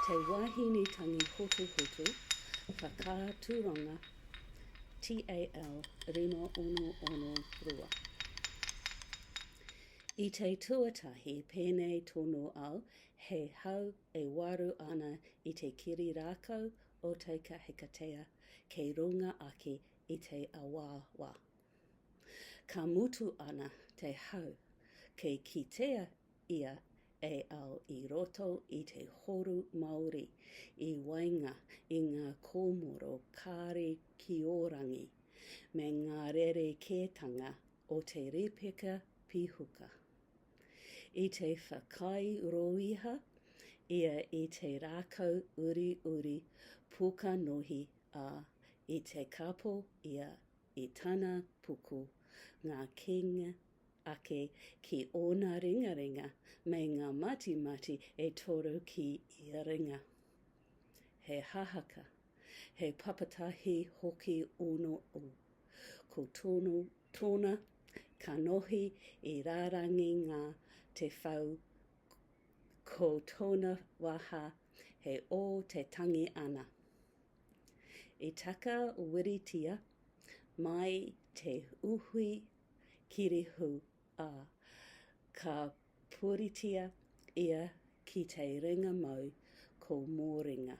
Te Wahine Tangi Hotuhotu Whakaaturanga TAL 566 I te tuatahi pēnei tonu au He hau e waru ana i te kiri rākau o Te Kahikatea kei runga ake i te awaawa. Ka mutu ana te hau kei kitea ia e ao i roto i te horu māori i waenga i ngā kōmoro kāri ki ō rangi me ngā rerekētanga o te rīpeka pīhuka. i te whakaae rōiha ia i te rākau uriuri pokanohi, ā, i te kapo ia i tana puku Ngā Kīnga ake ki ōna ringaringa me ngā matimati e toru ki ia ringa. He hahaka, he papatahi hoki ōno ū, ko tōno Tōna kanohi i rārangi ngā te whau ko tōna waha he ō te tangi ana. I taka wiritia mai te uhui kirihū, ā, ka Puritia ia ki Te Ringa Mau ko Mōringa,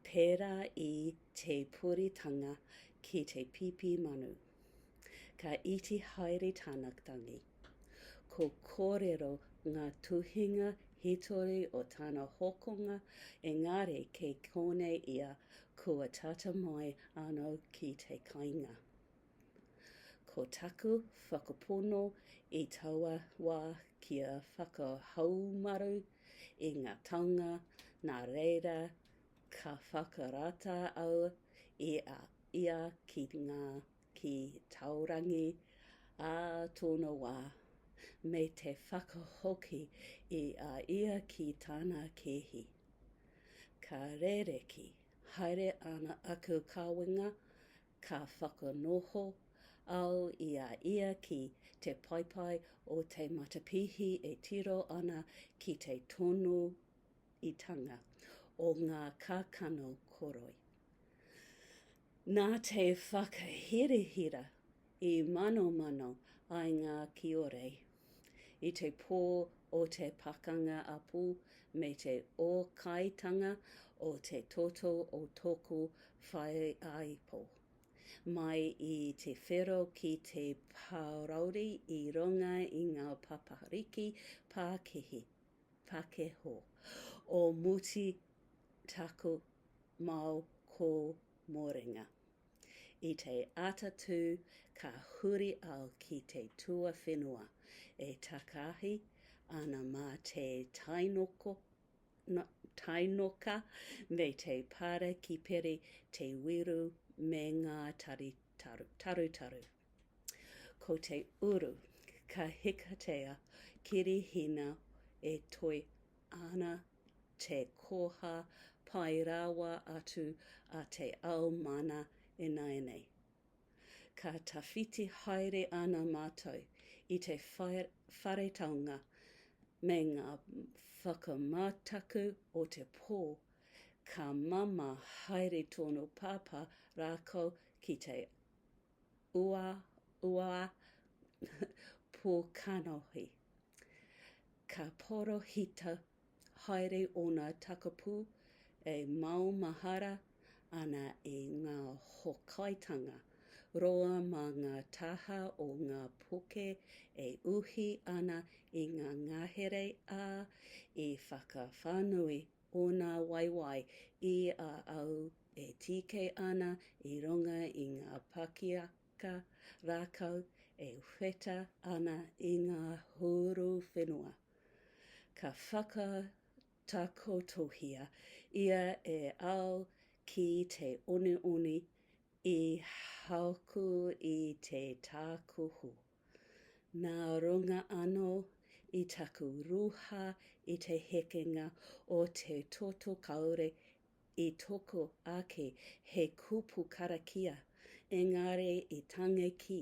pērā i te puritanga ki te pīpī manu. Ka iti haere tana tangi. Ko kōrero ngā tuhinga hītori o tana hokonga, engari kei konei ia kua tata mai anō ki te kainga. Ko taku whakapono i taua wā kia whakahaumaru i ngā taonga nā reira ka whakarata au i a ia ki ngā ki Taorangi ā tōna wā, me te whakahoki i a ia ki tāna kēhi. Ka rēreki haere ana aku kawenga Ka whakanoho au i a ia ki te paepae o te matapihi e tiro ana ki te tono itanga o ngā kākano koroi. Nā te whakahirahira i manomano ai ngā kiorei i te pō o te Pakanga Apo me te ōkaitanga o te toto o tōku whaiāipo. Mai i te whero ki te pārauri i runga i ngā papariki pākihi, pakeho, o Muti taku mao kōmoringa. I te ata tū ka huri au ki te tuawhenua e takaahi ana mā te tainoka me te para ki peri te wiru me ngā tari tarutaru. Ko te uru ka hikatea kirihina e toe ana te koha pai rawa atu a te ao mana ināianei. Ka tawhiti haere ana mātou i te whare taonga me ngā whakamataku o te pō, ka māmā haere tōna pāpā rākau ki te Ua, ua, pō kanohi. Ka porohita haere ōna takapū e maumahara ana i ngā hokaitanga roa mā ngā taha o ngā poke e uhi ana i ngā ngahere, ā, i whakawhānui Ōna waewae i a au e tīkei ana i runga i ngā pakiaka rākau e wheta ana i ngā hūru whenua. Ka whakatakotohia ia e au ki te onioni i haku i te tākuhu. Nā runga anō i taku ruha i te hekenga o te toto kāore i toko ake he kupu karakia, engari i tangi ki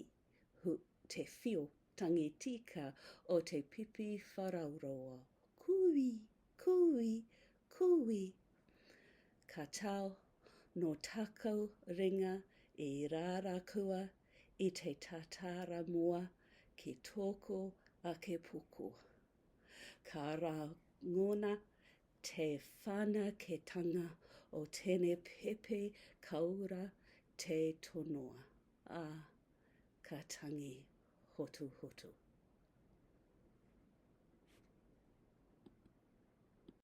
te whio tangi tika o te pipi wharauroa, Kūi! Kūi! Kūi! Ka tau, nō taku ringa i rārakua i te tātāra moa ki tōku ake puku. Ka rangona te whanaketanga o tēnei pepe kaura te tonoa, ā, ka tangi hotuhotu.